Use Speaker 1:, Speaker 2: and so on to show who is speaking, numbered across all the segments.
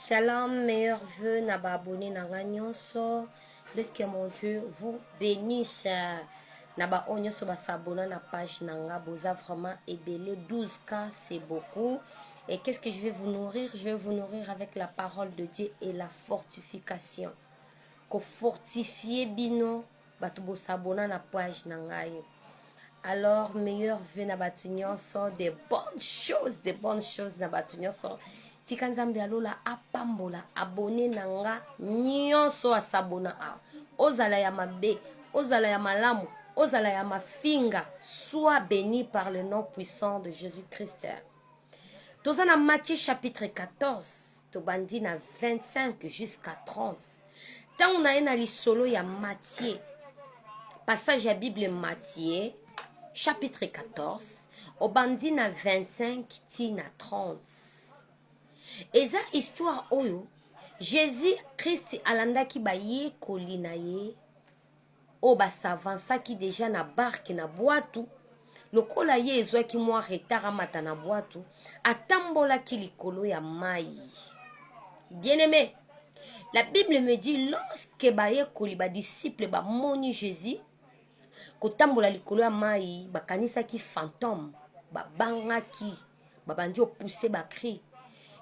Speaker 1: Shalom, meilleurs vœux na ba abonné na nga nyonso. Laisse que mon Dieu vous bénisse. Na ba oyo nyonso ba s'abonna na page na nga boza vraiment ebele 12K c'est beaucoup. Et qu'est-ce que je vais vous nourrir Je vais vous nourrir avec la parole de Dieu et la fortification. Ko fortifier bino bato bosabona na page na ngai alors meilleur vie na bato nyonso de bonnes choses de bonnes choses na bato nyonso tika nzambe ya lola apambola abone na nga nyonso asabona awa ozala ya mabe ozala ya malamu ozala ya mafinga soit béni par le nom puissant de jésus christ toza na matthieu chapitre 14 tobandi na 25 jusqu'à 30 ntango na ye na lisolo ya matie passage ya bible matie chapitre 14 obandi na 25 ti na 30 eza histoire oyo jésus krist alandaki bayekoli na ye oyo ba s'avansaki deja na barke na bwatu lokola ye ezwaki mwa retard amata na bwatu atambolaki likolo ya mai bien aimé la bible me dit lorsque bayekoli badisiple bamoni jésus kotambola likolo ya mai bakanisaki fantome babangaki babandi opousse bacri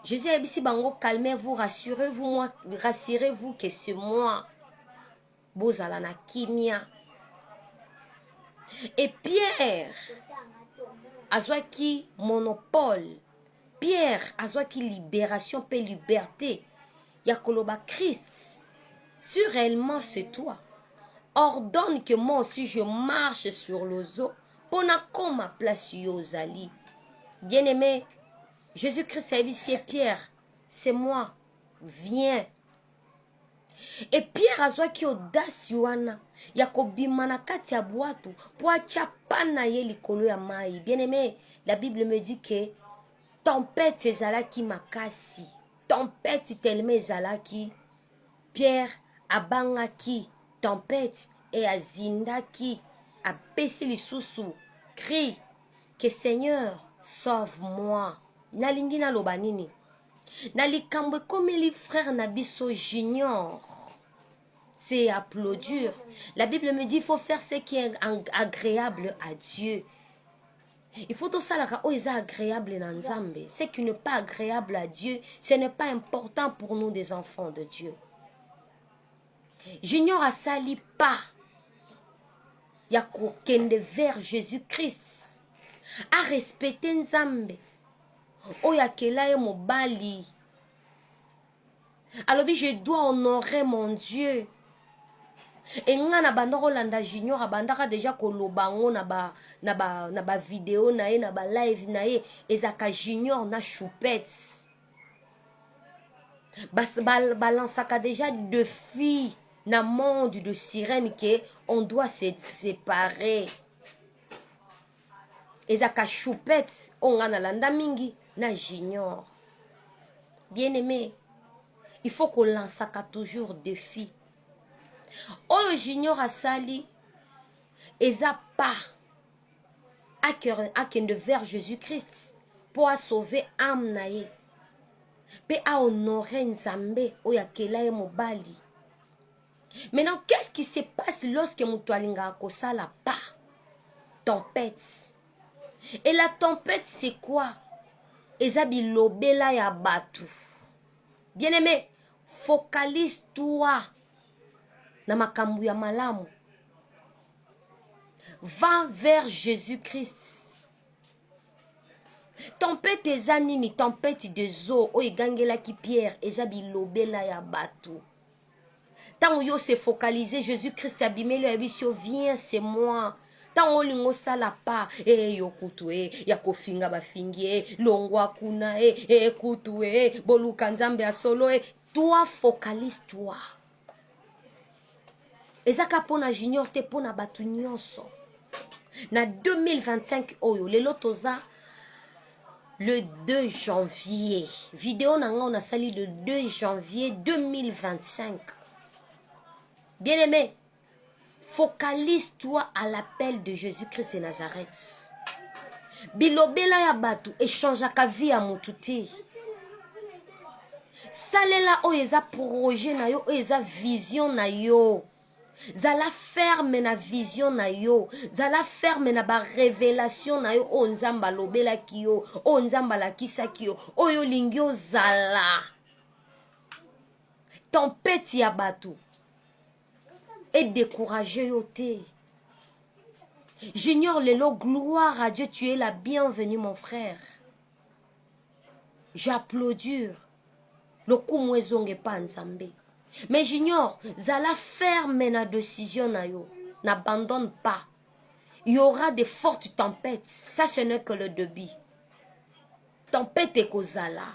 Speaker 1: jésus ayebisi bango calmez vous rassurez vous moi rassurez vous que c'est moi bozala na kimia et pierre azwaki monopole pierre azwaki libération mpe liberté ya koloba christ si réellement c'est toi ordonne que moi aussi je marche sur l'ozo mpo nakoma place yo ozali bien aimé jésus christ ayebisi ye pierre c'est moi viens e pierre azwaki odasi wana ya kobima na kati ya bwato mpo atya pane na ye likolo ya mai bien aime la bible me dit que tempete ezalaki makasi tempete telema ezalaki pierre abangaki tempete e azindaki apesi lisusu cri que seigneur sauve moi nalingi naloba nini na likambo ekomeli frère na biso junior c'est applaudir la bible me dit il faut faire ce qui est agréable à dieu il faut tosalaka oyo eza agréable na nzambe ce qui n'est pas agréable à dieu ce n'est pas important pour nous des enfants de dieu junior asali pas ya kokende vers jésus christ arespecte nzambe oyo akela ye mobali alobi je dois honorer mon dieu enga na banda kolanda junior abandaka deja koloba yango na ba na ba na ba video na ye na ba live na ye ezaka junior na choupette balansaka ba, ba deja de fille na monde de sirène ke on doit se séparer ezaka choupette oyo ngai nalanda mingi na junior bien aimé il faut kolansaka toujours défi oyo junior asali eza pas akende vers jésus christ mpo asauve ame na ye mpe ahonore nzambe oyo akela ye mobali maintenant qu'est-ce qui se passe lorsque moto alingaka kosala pas tempête et la tempête c'est quoi eza bilobela ya bato bien aimé focalise toi na makambo ya malamu va vers jésus christ tempete eza nini tempete des eaux oyo egangelaki pierre eza bilobela ya bato ntango yo se focalise jésus christ abimeli ayebisi yo viens c'est moi ntango olingi osala pa e eh, yo kutu e eh, ya kofinga bafingi e eh, longwa kuna e e kutu e boluka nzambe ya solo e toi focalise toi eza ka mpo na junior te mpo na bato nyonso na 2025 oyo lelo toza le 2 janvier video na ngai nasali le 2 janvier 2025 bien aimé focalise toi à l'appel de jésus christ de nazareth bilobela ya bato echangeaka vie ya motu te salela oyo eza projet na yo oyo eza vision na yo zala ferme na vision na yo zala ferme na barevelation na yo oyo oh, nzambe alobelaki yo oyo oh, nzambe alakisaki yo oyo oh, olingi ozala tempete ya bato edecourage yo te junior lelo gloire à dieu tu es la bienvenue mon frère j'applaudir lokumu ezonga epa nzambe mais junior zala ferme na decision na yo n'abandonne pas il y aura des fortes tempêtes ça ce n'est que le debut tempête ekozala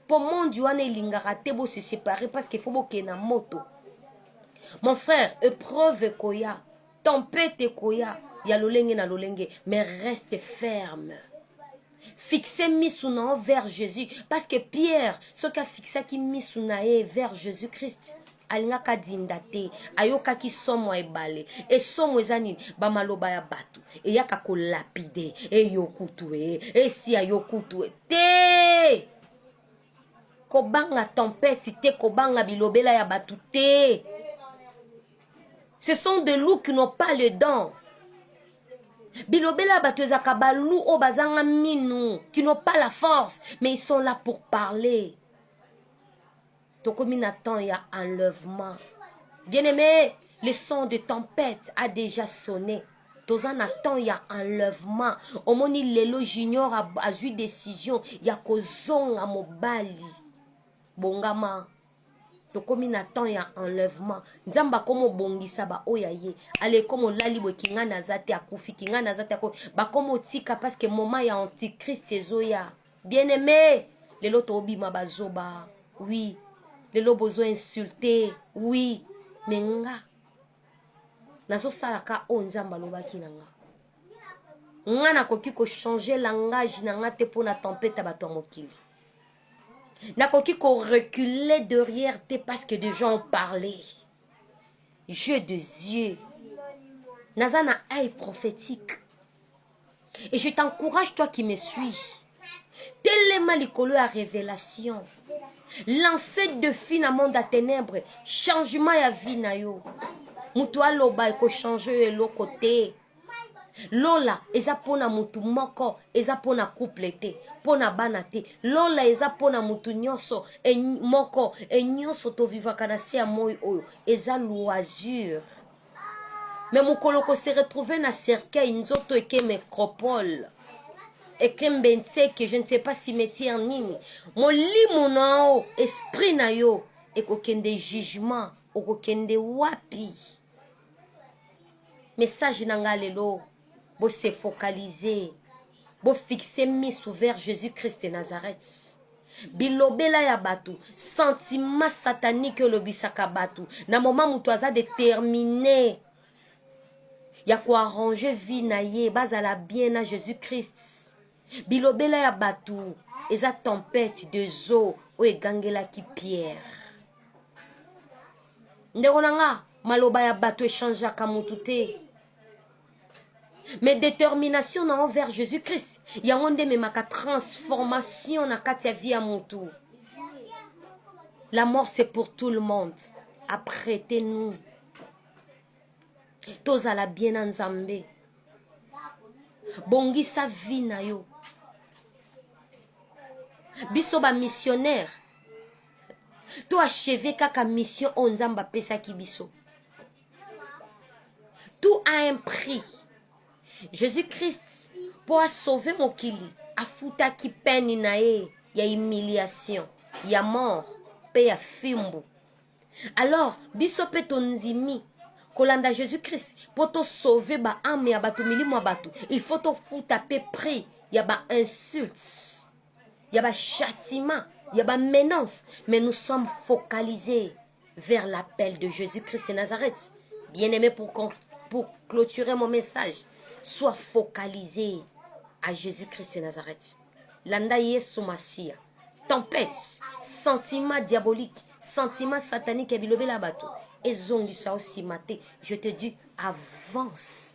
Speaker 1: mpo monde wana elingaka te bo se séparer parce qu'il faut bokende na moto mon frère épreuve ekoya tempête ekoya ya lolenge na lolenge mais reste ferme fixe misu na yo vers jésus parce que pierre soki afixaki misu na ye vers jésus christ alingaka adinda te ayokaki somo ya ebale esomo eza nini bamaloba ya bato eyaka kolapide eyokutu e esi ayokutu e te kobanga tempete te kobanga bilobela ya bato te ce sont des loups qui n'ont pas le dent bilobela bato ezalaka balou oyo bazanga minu qui n'ont pas la force mais ils sont là pour parler tokomi na temps ya enlèvement bien aimé le son de tempête a déjà sonné toza na temps ya enlèvement omoni lelo junior azwi décision ya kozonga mobali bongama tokomi na temps ya enlèvement nzambe akomi obongisa baoyo ya ye alekomi olali boye kingani aza te akufi kingani aza te akufi bakomi otika parceke moment ya antichrist ezoya bien aime lelo tobima bazoba oui lelo bozo insulte oui me nga nazosalaka oyo nzambe alobaki na nga nga nakoki kochange langage na nga te mpo na tempete ya bato ya mokili nakoki ko reculer derrière te parce que des gens ont parlé jeu de yeux naza na œil prophétique et je t'encourage toi qui me suis telema likolo ya révélation lance defi na monde ya ténèbre changement ya vie na yo moto aloba ekochange yo eloko te lola eza mpo na motu moko eza mpo na couple te mpo na bana te lola eza mpo na motu nyonso e, moko e nyonso tovivaka na se ya moi oyo eza loisure me mokolo kose retrouve na cercueil nzoto eke micropole ekembe nseke je ne sais pas cimetière nini molimo na yo esprit na yo ekokende jugement okokende wapi message na nga lelo bo se focaliser bo fixer misu vers Jésus Christ de Nazareth bilobela ya bato sentiment satanique olobisaka bato na moma moto aza détermine ya koarrange vie na ye bazala bien na jésus christ bilobela ya bato eza tempete de zo oyo egangelaki pierre ndeko na nga maloba ya bato echangeaka motu te mais détermination na envers jésus christ yango nde ememaka transformation na kati ya vie ya motu la mort c'est pour tout le monde apprêtez nous tozala bien na nzambe bongisa vie na yo biso bamissionnaire to acheve kaka mission oyo nzambe apesaki biso tout a un prix jésus christ mpo asauve mokili afutaki peni na ye ya humiliation ya mort mpe ya fimbu alors biso mpe tondimi kolanda jésus christ mpo tosauve baame ya bato milimo ya bato il faut tofuta mpe prix ya bainsulte ya ba châtiment ya ba menace mais nous sommes focalisés vers l'appel de jésus christ de nazareth bien aimé pour, pour clôturer mon message sois focalisé à jésus christ de nazareth landa yesu masiya tempête sentiment diabolique sentiment satanique ya bilobela ya bato ezongisa yo nsima te je te dis avance